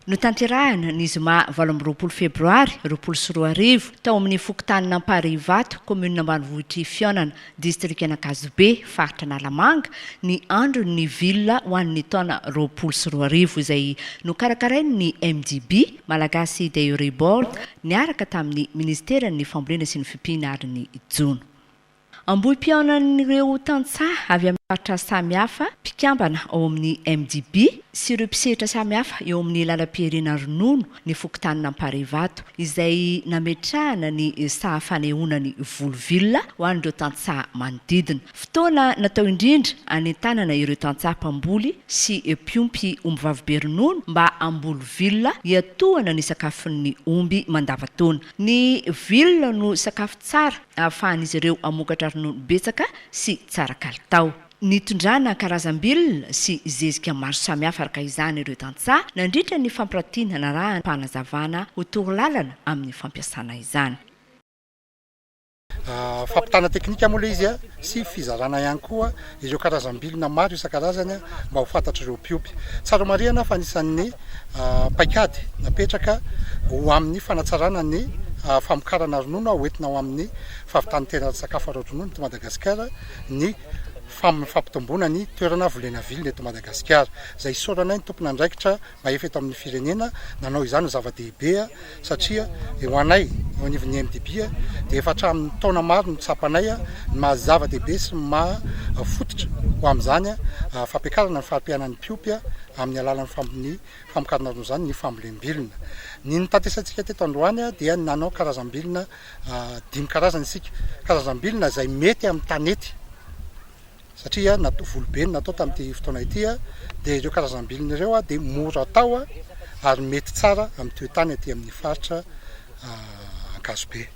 Notanterahina, ny zoma valo amby roapolo febroary roapolo sy roa arivo, tao amin'ny fokontanin'Amparihivato, kaominina ambanivohitr'i Fihaonana, distrikan'Ankazobe, faritra Analamanga, ny Andron'ny Villa ho an'ny taona roapolo sy roa arivo, izay nokarakarain'ny MDB, Malagasy Dairy Board, niaraka tamin'ny Ministeran'ny Fambolena sy ny Fimpiana ary ny Jono. Ambohim-pihaonan'ireo tantsaha avy amin'ny faritra samihafa, mpikambana ao amin'ny MDB sy ireo mpisehitra samihafa eo amin'ny lalam-piherena ronono ny fokontanin'Amparivato, izay nametrahana ny saha fanehoanany voly vilona ho an'ireo tantsaha manodidina. Fotoana natao indrindra hanentanana ireo tantsaha mpamboly sy mpiompy ombivavibe ronono mba hamboly vilona hiatohana ny sakafon'ny omby mandavantaona. Ny vilona no sakafo tsara ahafahan'izy ireo mamokatra ronono betsaka sy tsara kalitao. Nitondrana karazam-bilona sy zezika maro samihafa araka izany ireo tantsaha nandritra ny fampiratiana narahan-panazavana ho torolalana amin'ny fampiasana izany. Fampitana teknika moa ilay izy sy fizarana ihany koa ireo karazam-bilona maro isan-karazany mba ho fantatr'ireo mpiompy. Tsara homarihana fa anisan'ny paikady napetraka ho amin'ny fanatsarana ny famokarana ronono ho entina ho amin'ny fahavitan-tena sakafo ara-dronono eto Madagasikara ny fampitomboana ny toerana volena vilona eto Madagasikara izay isaoranay ny tompon'andraikitra na efa eto amin'ny firenena nanao izany no zava-dehibe satria ho anay eo anivon'ny MDB dia efa hatramin'ny taona maro no tsapanay ny maha zava-dehibe sy ny maha fototra ho amin'izany fampiakarana ny fari-piainan'ny mpiompy amin'ny alalan'ny fampiny famokarana ronono izany ny fambolem-bilona. Ny nitatesantsika teto androany dia nanao karazam-bilona dimy karazana isika, karazam-bilona izay mety amin'ny tanety. satria na volo be no natao tamin'ity fotoana ity dia ireo karazam-bilony ireo dia mora atao ary mety tsara amin'ny toetany aty amin'ny faritra Ankazobe.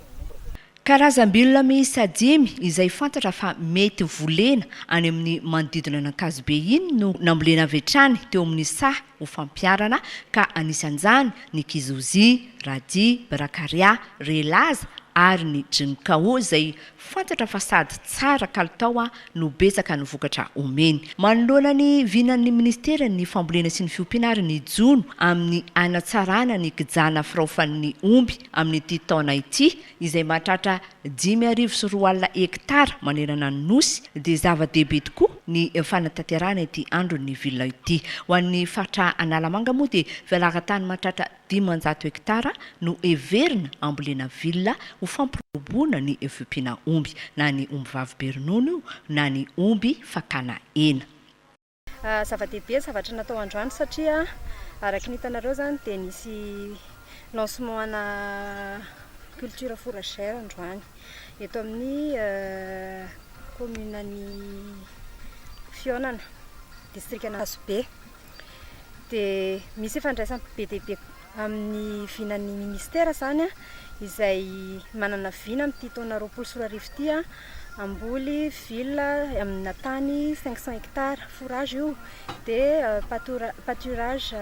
Karazam-bilona miisa dimy izay fantatra fa mety volena any amin'ny manodidina an'Ankazobe iny no nambolena avy hatrany teo amin'ny saha ho fampiharana ka anisan'izany ny Kizozi, Radi, Brakarià, Relaza ary ny Jinkao izay Fantatra fa sady tsara kalitao no betsaka ny vokatra omeny. Manoloana ny vinan'ny Ministeran'ny Fambolena sy ny Fiompiana ary ny jono amin'ny hanatsarana ny kijana firaofan'ny omby amin'ity taona ity, izay mahatratra dimy arivo sy roa alina hektara manerana ny Nosy, dia zava-dehibe tokoa ny fanatanterahana ity Andron'ny Villa ity. Ho an'ny faritra Analamanga moa dia fialaran-tany mahatratra. Dimanjato hektara no heverina hambolena villa ho fampirobona ny vpina omby, na ny ombivavy be ronono io na ny omby fakana hena. Zava-dehibe ny zavatra natao androany satria araka ny hitanareo izany dia nisy lancement ana culture fourragère androany eto amin'ny commune an'i Fihaonana, district an'Ankazobe. dia misy ifandraisany be dia be amin'ny vinan'ny ministera izany izay manana vina amin'ity taona roapolo sy roa arivo ity an, hamboly villa amina tany cinq cent hectares fourage io dia patora- pâturage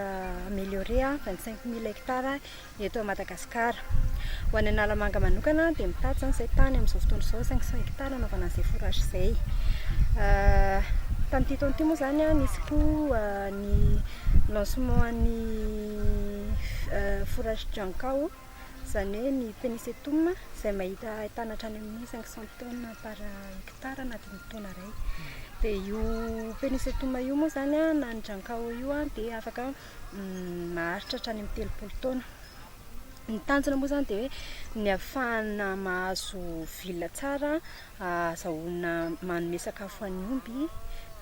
amélioré vingt cinq mille hectares eto Madagasikara. Ho any Analamanga manokana dia mitady izany izay tany amin'izao fotoana izao saingy saingy tany hanaovana an'izay forage izay. Tamin'ity taona ity moa izany nisy koa ny lancement an'ny forage Jankao izany hoe ny Penisetum izay mahita ahitana hatrany amin'ny cinq cent tonnes par hectare anatin'ny taona iray. Dia io Penisetum io moa izany na ny Jankao io dia afaka maharitra hatrany amin'ny telopolo taona. Ny tanjona moa izany dia hoe ny hahafahana mahazo villa tsara ahazahoana manome sakafo an'ny omby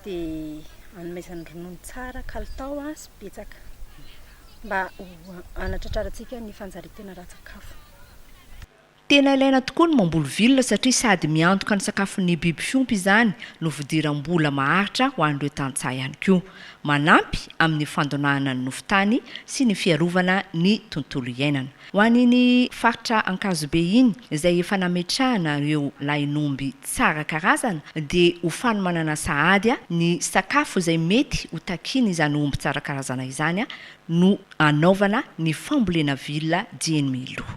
dia hanomezany ronono tsara kalitao sy betsaka mba ho hanatratrarantsika ny fanjarian-tena ara-tsakafo. Tena ilaina tokoa ny mamboly vilona satria sady miantoka ny sakafon'ny biby fiompy izany no fidiram-bola maharitra ho an'ireo tantsaha ihany koa. Manampy amin'ny fandonahana ny nofon-tany sy ny fiarovana ny tontolo iainana. Ho an'iny faritra Ankazobe iny izay efa nametrahana ireo lahin'omby tsara karazana dia ho fanomanana sahady ny sakafo izay mety ho takian'izany omby tsara karazana izany no hanaovana ny fambolena vilona dieny mialoha.